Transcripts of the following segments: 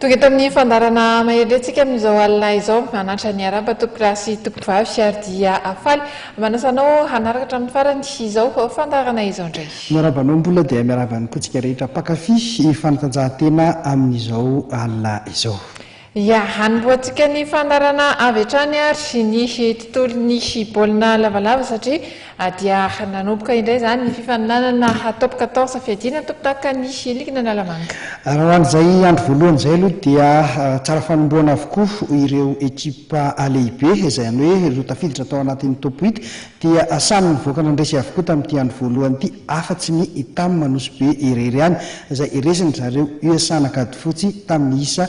Tonga eto amin'ny fandaharana maherin-drentsika amin'izao alina izao. Hanantra ny araba tompolahy sy tompovavy ary dia faly manasa anao hanaraka hatramin'ny farany izao fandaharana izao indray. Miarahaba anao mbola dia miarahaba ny potsika rehetra mpankafy fanatanjahantena amin'izao alina izao. Ia, hanombohantsika ny fandaharana avy hatrany ary ny tontolon'ny baolina lavalava satria. A Dia nanomboka indray izany ny fifaninanana Top quatorze Fiadiana ny tompondakan'ny ligna Analamanga. Raha ho an'izay andro voalohany izay aloha dia tsara fanombohana avokoa ireo ekipa lehibe, izany hoe ireo tafiditra tao anatin'ny Top huit dia samy nivoaka nandresy avokoa tamin'ity andro voalohany ity afa-tsy ny Tam Nosy Be irery ihany izay resiny zareo USAn'Ankadifotsy tamin'ny isa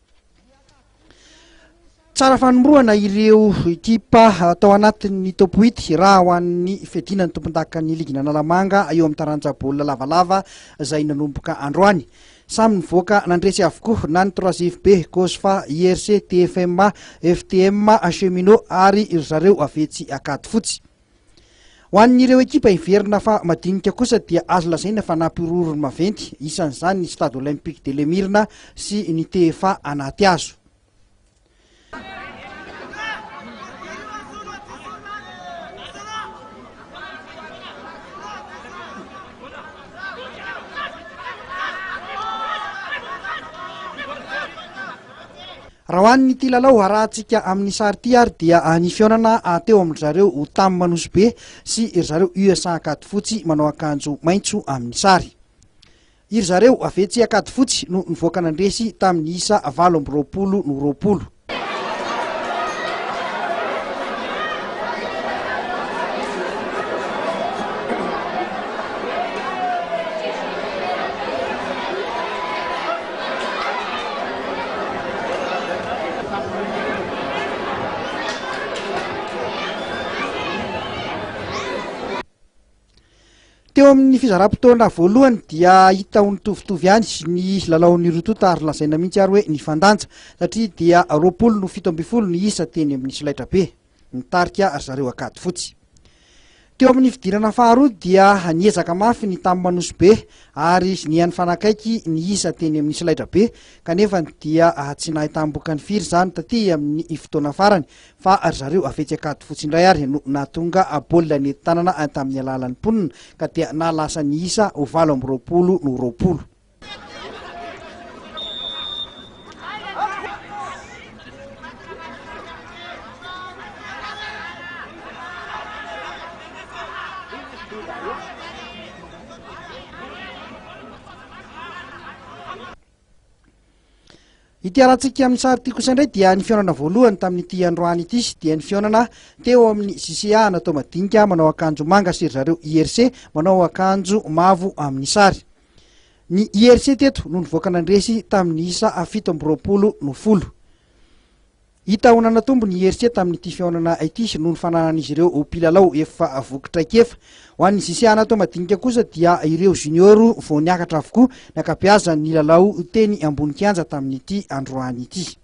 Tsara fanombohana ireo ekipa atao anatin'ny top 8 raha ho an'ny fiadiana ny tompondakan'ny ligina Analamanga eo amin'ny taranja baolina lavalava izay nanomboka androany. Samy nivoaka nandresy avokoa na ny 3JB, Cosfa, IRC, TFMA, FTMA, Cheminots ary ry zareo avetsy Ankadifotsy. Ho an'ireo ekipa hiverina fa madinika kosa dia azo lazaina fa nampihorohoro ny maventy, isan'izany ny Stade Olympique de l'Emirna sy ny TFA Anatihazo. Raha ho an'ity lalao arahantsika amin'ny sary ity ary dia ny fihaonana teo amin-dry zareo Tam Nosy-Be sy ry zareo USA Ankadifotsy manao akanjo maitso amin'ny sary. Iry zareo Avetsy Ankadifotsy no nivoaka nandresy tamin'ny isa valo amby roapolo no roapolo. Teo amin'ny fizaram-potoana voalohany dia hita ho nitovitovy ihany ny lalaon'ny roa tonta ary lazaina mihitsy ary hoe nifandanja satria dia roapolo no fito ambin'ny folo ny isa teny amin'ny solaitrabe. nitarika ry zareo Ankadifotsy. Teo amin'ny fidirana faharoa dia niezaka mafy ny tamin'ny Manosibe ary niha nifanakaiky ny isa teny amin'ny solaitrabe kanefa dia tsy nahay tambokany firy izany taty amin'ny fotoana farany fa ry zareo Afetsy Ankadifotsy indray ary no nahatonga baolina nentin-tanana tamin'ny alalan'ny mponina ka dia naha lasa ny isa ho valo amby roapolo no roapolo. Ity arantsika amin'ny sary ity kosa indray dia ny fihaonana voalohany tamin'ity androany ity dia ny fihaonana teo amin'ny CCA natao madinika manao akanjo manga sy ry zareo IRC manao akanjo mavo amin'ny sary. Ny IRC teto no nivoaka nandresy tamin'ny isa fito amby roapolo no folo. Hita ho nanatombo ny IRC tamin'ity fihaonana ity noho ny fananan'izy ireo mpilalao efa voky traikefa. Ho an'ny JC Anato madinika kosa dia ireo junior vao niakatra avokoa ny ankabeazany nilalao teny ambony kianja tamin'ity androany ity.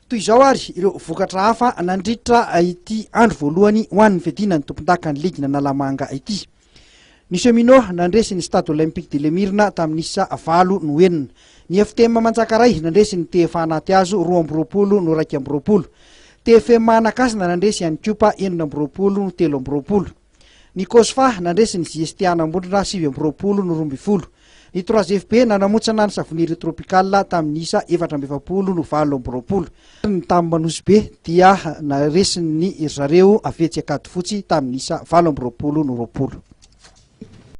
Toy izao ary ireo vokatra hafa nandritra ity andro voalohany ho an'ny fiadiana ny tompondakan'ny ligin'Analamanga ity. Ny Cheminots nandresy ny Stade Olympique de l'Emirna tamin'ny isa valo no enina. Ny FTM Manjakaray nandresy ny TFA Anatihazo roa amby roapolo no iraika amby roapolo. TFM Anakasina nandresy an'i Cupa enina amby roapolo no telo amby roapolo. Ny Cosfa nandresy ny JSTAna Ambondrona sivy amby roapolo no roa ambin'ny folo. Ny Trois FB nanamontsana ny Savonnerie Tropicale tamin'ny isa efatra amby efapolo no valo amby roapolo. Ny tamin'ny Manosibe dia naresin'ny ry zareo avy etsy Ankadifotsy tamin'ny isa valo amby roapolo no roapolo.